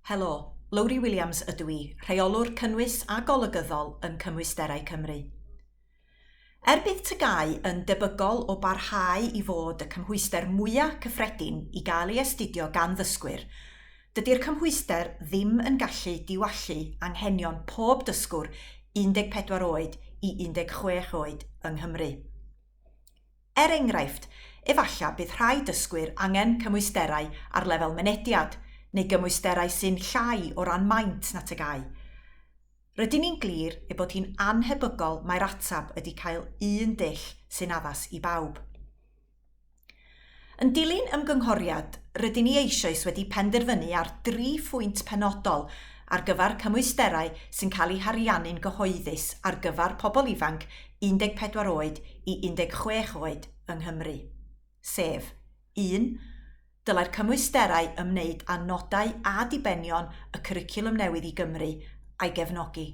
Helo, Lowri Williams ydw i, Rheolwr Cynnwys a Golygyddol yn Cymwysterau Cymru. Er bydd TGAU yn debygol o barhau i fod y cymhwyster mwyaf cyffredin i gael ei astudio gan ddysgwyr, dydy'r cymhwyster ddim yn gallu diwallu anghenion pob dysgwr 14 oed i 16 oed yng Nghymru. Er enghraifft, efallai bydd rhai dysgwyr angen cymwysterau ar lefel mynediad, neu gymwysterau sy'n llai o ran maint na TGAU. Rydyn ni'n glir ei bod hi'n annhebygol mai'r ateb ydy cael un dull sy'n addas i bawb. Yn dilyn ymgynghoriad, rydyn ni eisoes wedi penderfynu ar dri phwynt penodol ar gyfer cymwysterau sy'n cael eu hariannu'n gyhoeddus ar gyfer pobl ifanc 14 oed i 16 oed yng Nghymru, sef, un Dylai'r cymwysterau ymwneud â nodau a dibenion y Cwricwlwm Newydd i Gymru a'i gefnogi.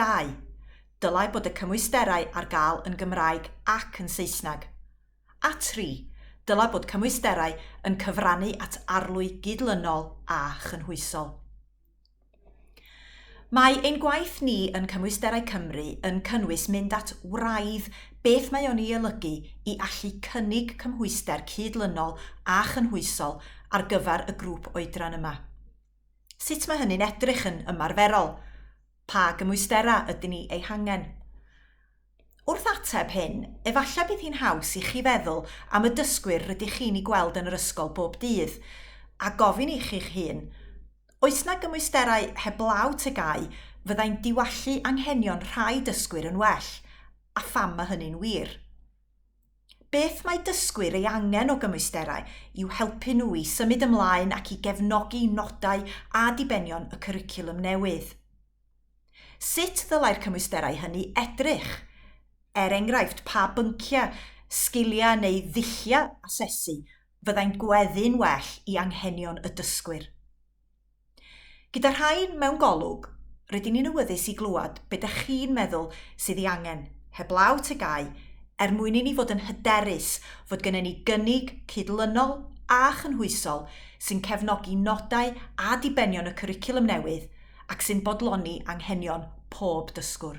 2. Dylai bod y cymwysterau ar gael yn Gymraeg ac yn Saesneg. A 3. Dylai bod cymwysterau yn cyfrannu at arlwy gydlynol a chynhwysol. Mae ein gwaith ni yn Cymwysterau Cymru yn cynnwys mynd at wraidd beth mae o'n ei olygu i allu cynnig cymhwyster cydlynol a chynhwysol ar gyfer y grŵp oedran yma. Sut mae hynny'n edrych yn ymarferol? Pa gymwysterau ydyn ni eu hangen? Wrth ateb hyn, efallai bydd hi'n haws i chi feddwl am y dysgwyr rydych chi'n eu gweld yn yr ysgol bob dydd, a gofyn i chi'ch hun, 'Oes 'na gymwysterau heblaw TGAU fyddai'n diwallu anghenion rhai dysgwyr yn well, a pham mae hynny'n wir? Beth mae dysgwyr ei angen o gymwysterau i'w helpu nhw i symud ymlaen ac i gefnogi nodau a dibenion y cwricwlwm newydd? Sut ddylai'r cymwysterau hynny edrych? Er enghraifft, pa bynciau, sgiliau neu ddulliau asesu fyddai'n gweddu'n well i anghenion y dysgwyr? Gyda rhain mewn golwg, rydyn ni'n awyddus i glywed beth ydych chi'n meddwl sydd ei angen, heblaw tygau, er mwyn i ni fod yn hyderus fod gennym ni gynnig cydlynol a chynhwysol sy'n cefnogi nodau a dibenion y cwricwlwm newydd ac sy'n bodloni anghenion pob dysgwr.